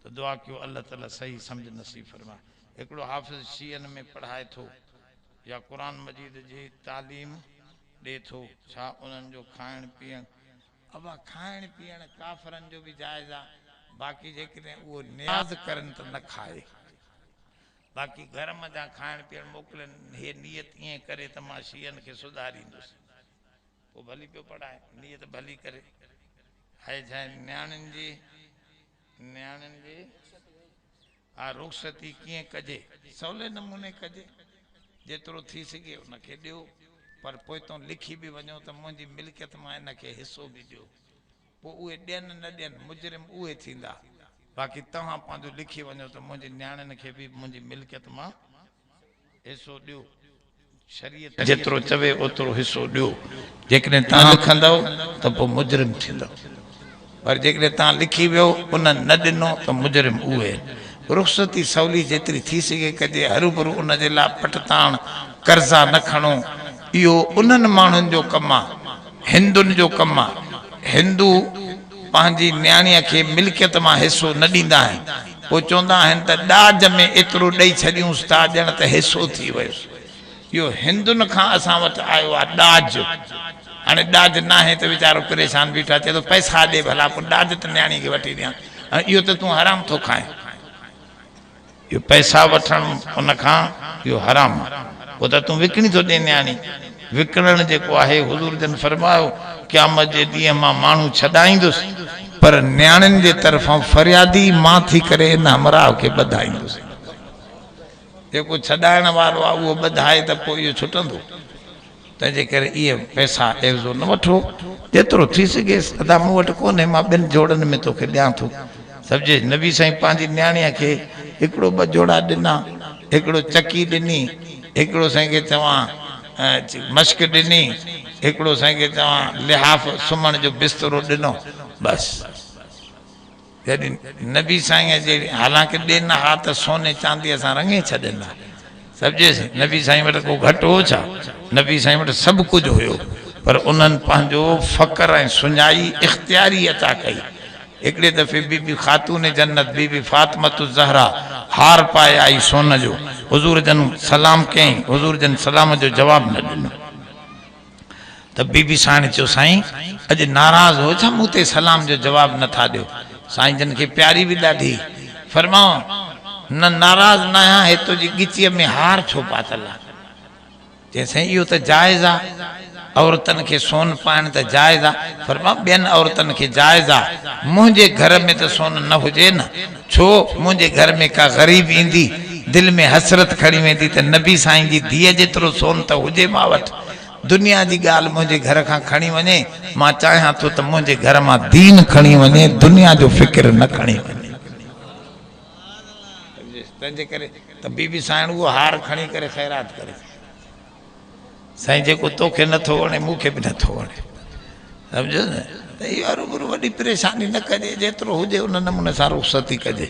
ته دعا ڪيو الله تعالي صحيح سمجھ نصيب فرمائي هڪڙو حافظ شيعن ۾ پڙهائي ٿو يا قرآن مجيد جي تعليم ڏي ٿو ڇا انهن جو کائڻ پيئڻ ابا کائڻ پيئڻ ڪافرن جو به جائز آ باقي جيڪڏهن اهو نياز ڪرن ته نه کائي باقي گهر منجهان کائڻ پيئڻ موڪلين هي نيت ائين ڪري ته مان شيعن کي سڌاريندس پوء ڀلي پيو پڙهائي نيت ڀلي ڪري. هيء جنهن نياڻين جي، نياڻين جي، اها رخصتي ڪيئن ڪجي؟ سولي نموني ڪجي. جيترو ٿي سگهي ان کي ڏيو، پر پوئتون لکي به وڃو ته منهنجي ملڪيت مان ان کي حصو به ڏيو. پوء اهي ڏين نه ڏين، مجرم اهي ٿيندا. باقي توهان پنهنجو لکي وڃو ته منهنجي نياڻين کي به منهنجي ملڪيت مان. حصو ڏيو. شريعت جيترو چوي اوترو حصو ڏيو. جيڪڏهن توهان لکندؤ ته پوء مجرم ٿيندؤ. پر جيڪڏهن توهان لکي ويو انهن نه ڏنو ته مجرم اهي آهن. رخصتي سولي جيتري ٿي سگهي ڪجي. هروڀرو ان جي لاء پٺتاڻ قرضا نه کڻو. اهو انهن ماڻهن جو ڪم آهي. هندن جو ڪم آهي. هندو. پنهنجي نياڻيء کي ملڪيت مان حصو نه ڏيندا آهن، پوء چوندا آهن ته ڏاج ۾ ايترو ڏئي ڇڏيونس ٿا ڄڻ ته حصو ٿي ويو. اهو هندن کان اسان وٽ آيو آهي ڏاج. هاڻي ڏاج ناهي ته ويچارو پريشان بيٺو چئي ٿو پئسا ڏي ڀلا پوء ڏاج ته نياڻيء کي وٺي ڏيان. اهو ته تون حرام ٿو کائين. اهو پئسا وٺڻ ان کان اهو حرام آهي اهو ته تون وڪڻي ٿو ڏين نياڻي وڪڻڻ جيڪو آهي حضور جن فرمايو قيامت جي ڏينهن مان ماڻهو ڇڏائيندس پر نياڻين جي طرفان فريادي مان ٿي ڪري ان همراهه کي ٻڌائيندس جيڪو ڇڏائڻ وارو آهي اهو ٻڌائي ته پوء اهو ڇٽندو. تنهن جي ڪري اهي پئسا عيوضو نه وٺو، جيترو ٿي سگهيس ادا مون وٽ ڪونهي، مان ٻن جوڙن ۾ توکي ڏيان ٿو. سمجهيس، نبي سائين پنهنجي نياڻيء کي هڪڙو ٻه جوڙا ڏنا، هڪڙو چڪي ڏني، هڪڙو سائين کي چوان مشڪ ڏني، هڪڙو سائين کي چوان لحاف سمهڻ جو بسترو ڏنو، بس! جڏهن نبي سائينء جي حالانڪه ڏي نه ها ته سوني چانديء سان رڱي ڇڏين ها. سمجهيس؟ نبي سائين وٽ ڪو گهٽ هو ڇا؟ نبي سائين وٽ سڀ ڪجهه هيو، پر انهن پنهنجو فقر ۽ سڃائي اختياري عطا ڪئي. هڪڙي دفعي بي بي خاتون جنت بي بي فاطمة الزهراء هار پائي آئي سون جو، حضور جن سلام ڪيائين، حضور جن سلام جو جواب نه ڏنو. ته بي بي ساڻ چيو سائين اڄ ناراض هو ڇا مون تي سلام جو جواب نه ٿا ڏيو سائين جن کي پياري به ڏاڍي فرمايو نه ناراض ناهيان هي تنهنجي ڳچيء ۾ هار ڇو پاتل آ چيائين سائين اهو ته جائز آ عورتن کي سون پائڻ ته جائز آ فرمايو ٻين عورتن کي جائز آ منهنجي گهر ۾ ته سون نه هجي نه ڇو منهنجي گهر ۾ ڪا غريب ايندي، دل ۾ حسرت کڻي ويندي ته نبي سائين جي ڌيء جيترو سون ته هجي مان وٽ، دنيا جي ڳالهه منهنجي گهر کان کڻي وڃي، مان چاهيان ٿو ته منهنجي گهر مان دين کڻي وڃي، دنيا جو فڪر نه کڻي وڃي. تنهنجي ڪري ته بي بي سائڻ اهو هار کڻي ڪري خيرات ڪري ٿي. سائين جيڪو توکي نٿو وڻي مون کي به نٿو وڻي سمجھو نه ته اها روبرو وڏي پريشاني نه ڪجي جيترو هجي ان نموني سان رخصتي ڪجي